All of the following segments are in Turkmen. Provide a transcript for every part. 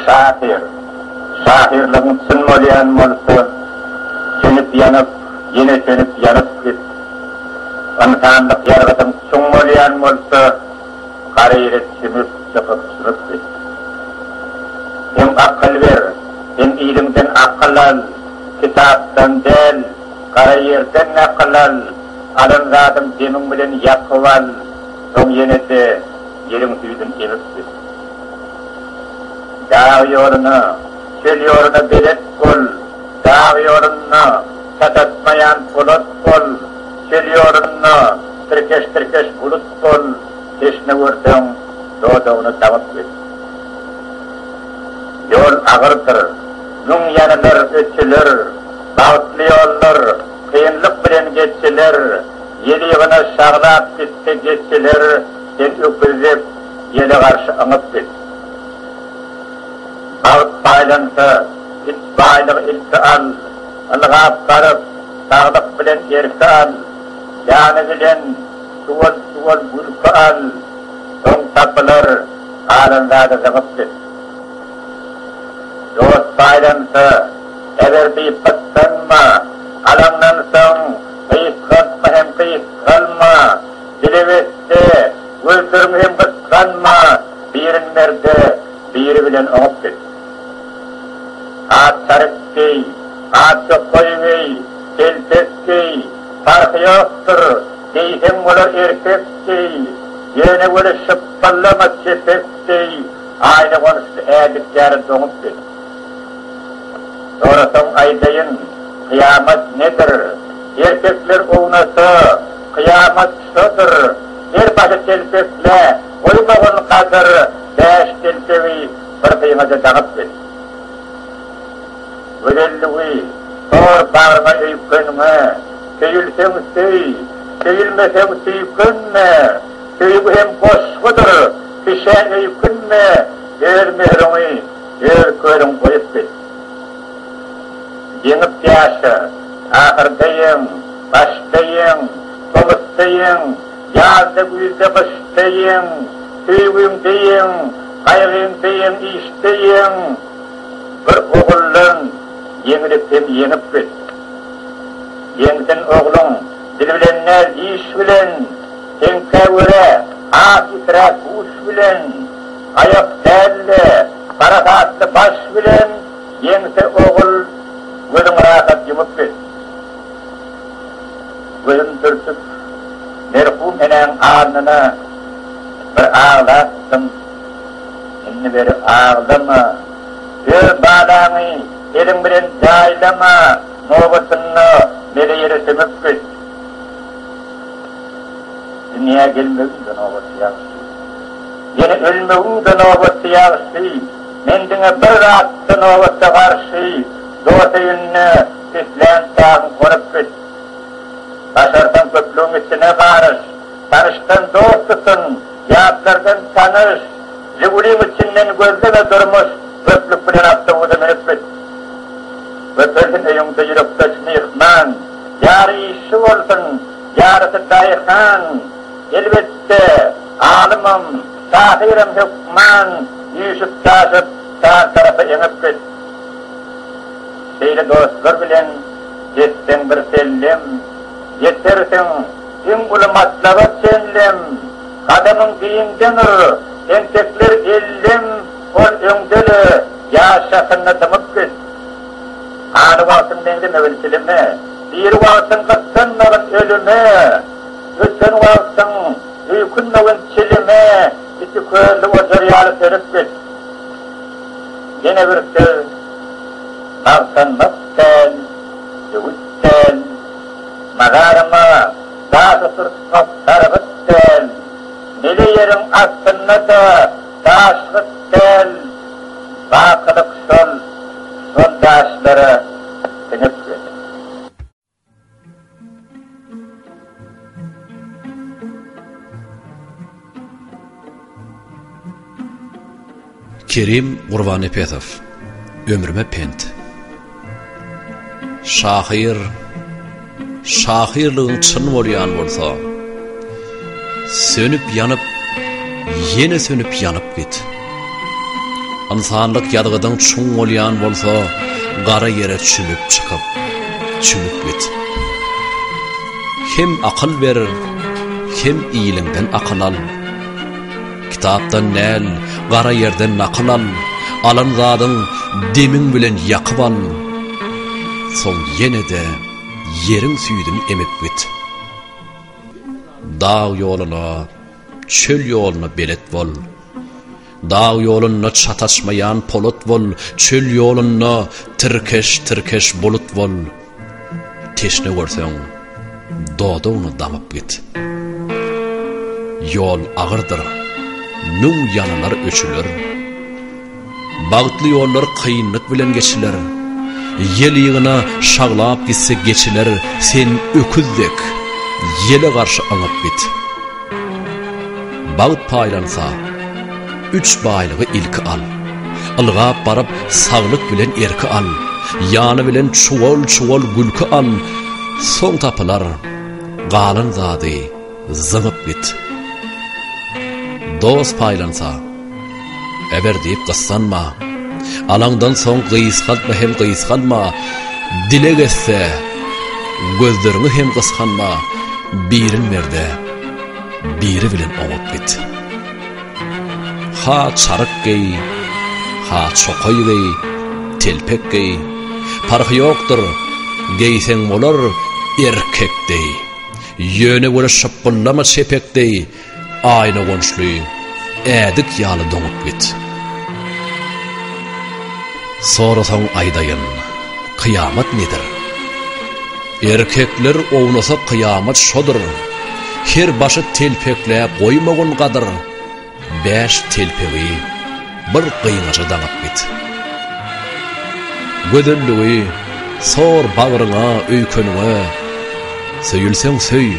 Şahyr. Şahyrlygyň çyn bolýan bolsa, sönüp-ýanyp, ýene sönüp-ýanyp git. Ynsanlyk ýargydyň çuň bolýan bolsa, gara ýere çümüp, çykyp-çümüp git. Hem akyl ber, hem iliňden akyl al, kitapdan däl, gara ýerden nakyl al, alan zadyň demiň bilen ýakyp al. Soň ýene-de ýeriň süýdün emip git. Dag ýoluna, çöl ýoluna belet bol, dag ýolunda satatmaýan polat bol, çöl ýolunda tirkeş-tirkeş bulut bol, teşne görseň, dodagyny damyp git. Ýol agyrdyr, müň ýanylar, ötüler, bagtly ýollar. Kynlyk bilen geçseler, Ýel ýygyna şaglap gitse geçseler, Sen öküz dek ýele garşy yňyp git. Bagt paýlansa, git baýlygy ilki al, Ylgap baryp, saglyk bilen erki al, Ýany bilen suwal-suwal gülki al, Soň tapylar, galan zady zyňyp git. Dost paýlansa, Eger diýip gyssanma, alaňdan soň gysgaltma hem gysgalma, dile besle, öldürme hem gysganma, birin merde, biri bilen oňup git. At çaryk geý, at ýokaýy geý, telpek geý, parhy ýokdur, geýseň bolar erkek geý, ýöne weli şypbyllama çepek geý, aýna-gonuşly ädik ýaly doňup git. Sorasaň aýdaýyn, kyýamat nedir? Erkekler ownasa, kyýamat şodur, Her başy telpekle, goýmagyn gadyr, Bäş telpegi bir syňada daňyp gel. Gözelligi sor bagryňa öýkeniňe, Söýülseň söý, söýülmeseň süýkenme, Söýgi hem goşgudyr, kişä öýkünme, Öz möhrüňi. Öz körüň goýup git. Ýeňip ýaşa. Ahyrda ýeň, başda ýeň, tomusda ýeň, ýazda, güýzde, gyşda ýeň, söýgiňde ýeň, gaýgyňda ýeň, işde ýeň. Bir oguldan ýeňlip hem ýeňip git. Ýeňsin ogluň, dil bilen däl, diş bilen, teňkä görä, has itiräk, guş bilen. Aýak dälde, parasatly baş bilen ýeňse ogul gözüň rahat ýumup bil. Gözüm dürtüp merhum enäň alnyna bir aglapdym. Indi beri aglama. Öz balaňy eliň bilen jaýlama, nobatynda mele ýere sümüp git. Dünýä gelmegiň-de nobaty ýagşy. Ýene ölmegiň-de nobaty ýagşy, Men diňe bir zatda nobata garşy, Dos öýünde islän çagyň gonup git. Başarsaň köplügiň içine garyş, Tanyşdan dost tutun, ýatlardan tanyş, Žiguliň içinden gözleme durmuş, Köplük bilen awtobusa münüp git. Köpelsin öýüňde ýürekdeş myhman, Ýary işçi bolsun, ýarysy daýhan, Elbetde, alymam, şahyram hökman üýşüp-çaşyp, şar tarapa eňip git. Şeýle dostlar bilen gezseň bir sellem, ýetersiň iň uly matlaba çenlem. Gadamyň giňde nur, entekler ellem, ol öňde-le ýaz şahynda dymyp git. Haly wagtyň meňzemegin çilime, diri wagtyň gyssanmagyn ölüme. Öten wagtyň öýkünmegin çilime iki közli ojar ýaly serip git. Ýene bir söz, magtanmak däl, öwüt däl, mazaryma daş oturtmak sargyt däl, mele ýeriň astynda-da daşlyk däl, bakylyk şol, şol daşlara siňip git. Kerim Gurbanepesow Ömrüme pent Şahyr Şahyrlygyň çyn bolýan bolsa Sönüp ýanyp, ýene sönüp ýanyp git. Ynsanlyk ýazgydyň çuň bolýan bolsa, gara ýere çümüp çykyp, çümüp git. Hem akyl ber, hem iliňden akyl al. Kitapdan däl, gara ýerden nakyl al, alan zadyň demiň bilen ýakyp al. Soň ýene-de ýeriň süýdüni emip git. Dag ýoluna, çöl ýoluna belet bol. Dag ýolunda çataşmaýan polat bol, çöl ýolunda tirkeş-tirkeş bulut bol. Teşne görseň, dodagyny daňyp git. Ýol agyrdyr, müň ýanylar öçüler. Bagtly ýollar kynlyk bilen geçiler, Ýel ýygyna şaglap gitse geçiler, Sen öküz dek, ýele garşy aňyp git. Bagt paýlansa, üç baýlygy ilki al, Ylgap baryp, saglyk bilen erki al, Ýany bilen çuwal-çuwal gülki al, Soň tapylar galan zady. Zyňyp git. Dost paýlansa, Eber diýip gyssanma. Alaňdan soň gysgaltma hem gysganma. Dileg etse, gözleriňi hem gysganma. Birin ber-de, biri bilen oňup git. Ha çaryk geý, ha çokaý geý, telpek geý. Parhy ýokdur, geýseň bolar, erkek deý. Ýöne göle şypbyllama çepek deý, aýna gonşly, ädik ýaly doňup git. Sorasaň aýdaýyn, kyýamat nedir? Erkekler ownasa kyýamat şodur, Her başy telpekläp goýmagyn gadyr. Bäş telpegi bir gyňaja daňyp git. Gözelligi sor bagryňa öýkeniňe, Söýülseň söý,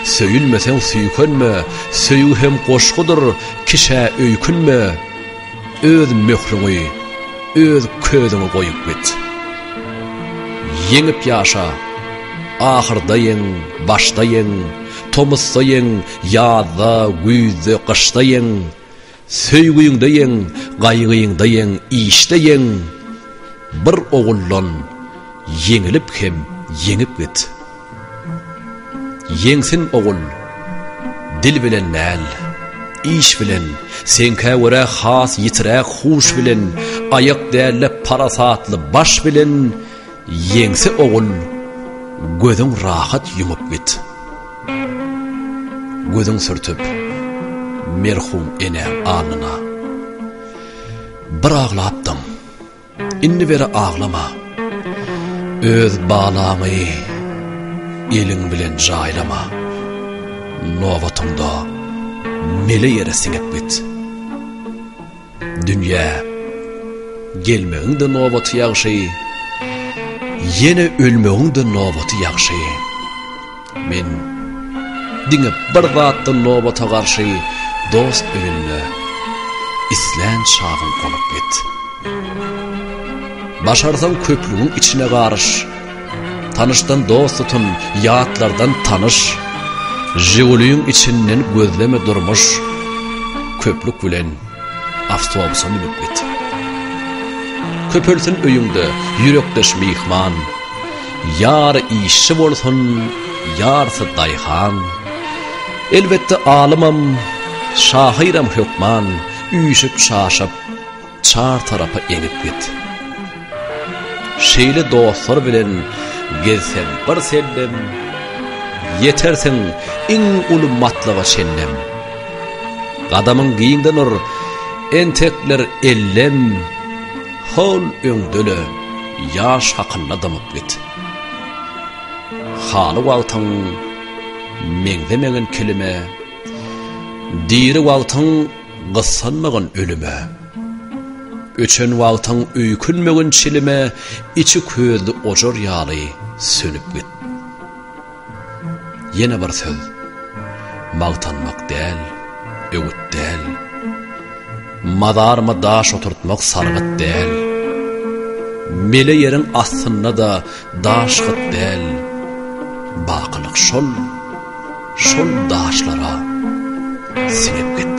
söýülmeseň süýkenme, Söýgi hem goşgudyr, kişä öýkünme, Öz möhrüňi, öz közüňi goýup git. Ýeňip ýaşa, ahyrda ýeň, başda ýeň, Tomusda ýeň, Ýazda, güýzde, gyşda ýeň, Söýgiňde ýeň, gaýgyňda ýeň, işde ýeň, Bir oguldan ýeňilip hem ýeňip git. Ýeňsin ogul, dil bilen däl, iş bilen, Seňkä görä has ýitiräk huş bilen, Aýak däl-de parasatly baş bilen, Ýeňse ogul gözüň rahat ýumup git. Gözüň sürtüp merhum enäň alnyna. Bir aglapdyň. Indi beri aglama. Öz balaňy eliň bilen jaýlama. Nobatyňda mele ýere siňip git. Dünýä gelmegiň-de nobaty ýagşy, ýene ölmegiň-de nobaty ýagşy. Men diňe bir zatdan nobata garşy, dost öýünde islän çagyň gonup git. Başarsaň köplügiň içine garyş, Tanyşdan dost tutun, ýatlardan tanyş. Žiguliň içinden gözleme durmuş. Köplük bilen awtobusa münüp git. Köpelsin öýüňde ýürekdeş myhman. Ýary işçi bolsun, ýarsy daýhan. Elbetde alymam, şahyram hökman, üýşüp-şaşyp. Çar tarapa eňip git. Şeýle dostlar bilen gezseň bir sellem, Ýetersiň iň uly matlaga çenlem. Gadamyň giňden ur, entekler ellem, Hol öňdele, ýaş hakylla dymyp git. Haly wagtyň meňzemegin kilime, Diri wagtyň Gyssanmagyn ölüme. Öçen wagtyň öýkünmegin çilime Içi közli ojar ýaly sönüp git. Ýene bir söz. Magtanmak däl, öwüt däl. Mazaryma daş oturtmak sargyt däl. Mele ýeriň astynda-da Daş-hyt däl, bakylyk şol, şol daşlara siňip git.